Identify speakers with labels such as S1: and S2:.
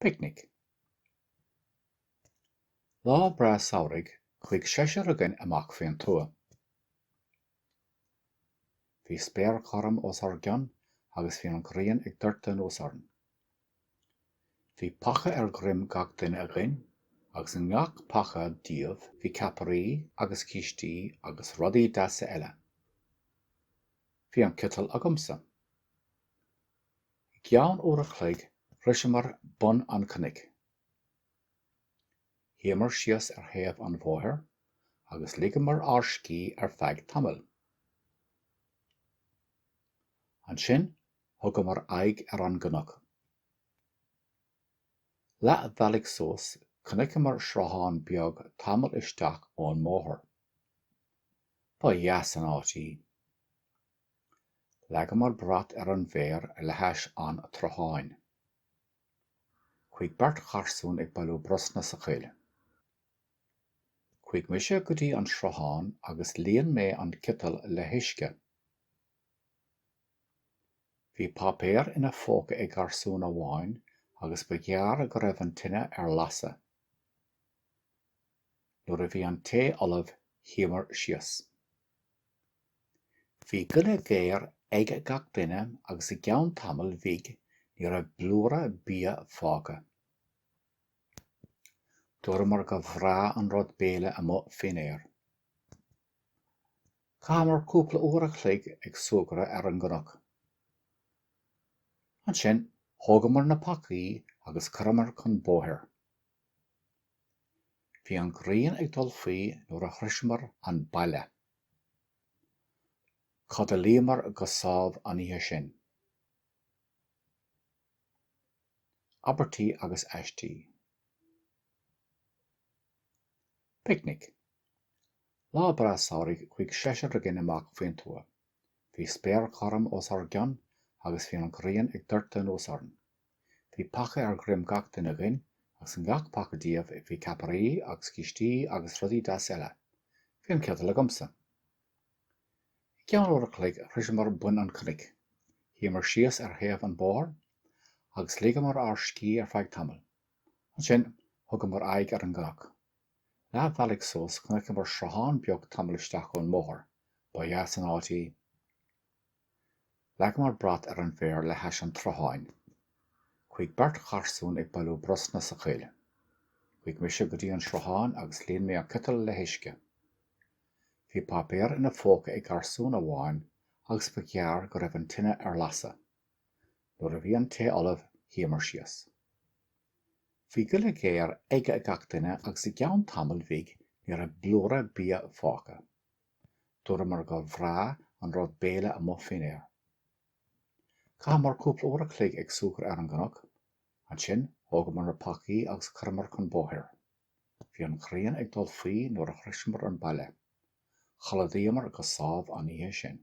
S1: Picnic. Lá breá samhraidh chuaigh seisear againn amach faoin tuath. Bhí spéir ghorm os ár gcionn agus bhí an ghrian ag doirteadh anuas orainn. Bhí paca ar dhroim gach duine againn agus i ngach paca díobh bhí ceapairí agus cístí agus rudaí deasa eile. Bhí an citeal agamsa. I gceann uair a chloig shroiseamar bun an chnoic. Shuíomar síos ar thaobh an bhóthair agus ligeamar ár scíth ar feadh tamaill. Ansin thugamar aghaidh ar an gcnoc. Leath bhealaigh suas chonaiceamar sruthán beag tamall isteach ón mbóthar. Ba dheas an áit í. Leagamar brat ar an bhféar le hais an tsrutháin. Chuaigh beirt gharsún ag bailiú brosna sa choill. Chuaigh mise go dtí an sruthán agus líon mé an citeal le huisce. Bhí páipéar ina phóca ag garsún amháin agus ba ghearr go raibh an tine ar lasadh. Nuair a bhí an tae ullamh shuíomar síos. Bhí goile ghéar ag gach duine agus i gceann tamaill bhig ní raibh blúire bia fágtha. Dúramar gur bhreá an rud béile amuigh fén aer. Chaitheamar cúpla uair a chloig ag súgradh ar an gcnoc. Ansin thógamar na pacaí agus chuireamar chun bóthair. Bhí an ghrian ag dul faoi nuair a shroiseamar an baile. Chodlaíomar go sámh an oíche sin. Abairtí agus aistí. Picnic. Lá breá samhraidh chuaigh seisear againn amach faoin tuath. Bhí spéir ghorm os ár gcionn agus bhí an ghrian ag doirteadh anuas orainn. Bhí paca ar dhroim gach duine againn agus i ngach paca díobh bhí ceapairí agus cístí agus rudaí deasa eile. Bhí an citeal agamsa. I gceann uair a chloig shroiseamar bun an chnoic. Shuíomar síos ar thaobh an bhóthair agus ligeamar ár scíth ar feadh tamaill. Ansin thugamar aghaidh ar an gcnoc. Leath bealaigh suas, chonaiceamar sruthán beag tamall isteach ón mbóthar. Ba dheas an áit í. Leagamar brat ar an bhféar le hais an tsrutháin. Chuaigh beirt gharsún ag bailiú brosna sa choill. Chuaigh mise go dtí an sruthán agus líon mé an citeal le huisce. Bhí páipéar ina phóca ag garsún amháin agus ba ghearr go raibh an tine ar lasadh. Nuair a bhí an tae ullamh, shuíomar síos. Bhí goile géar aige gach duine agus i gceann tamaill bhig ní raibh blúire bia fágtha. Dúramar gur bhreá an rud béile amuigh faoin aer. Chaitheamar cúpla uair a chloig ag súgradh ar an gcnoc. Ansin thógamar na pacaí agus chuireamar chun bóthair. Bhí an ghrian ag dul faoi nuair a shroiseamar an baile. Chodladaíomar go sámh an oíche sin.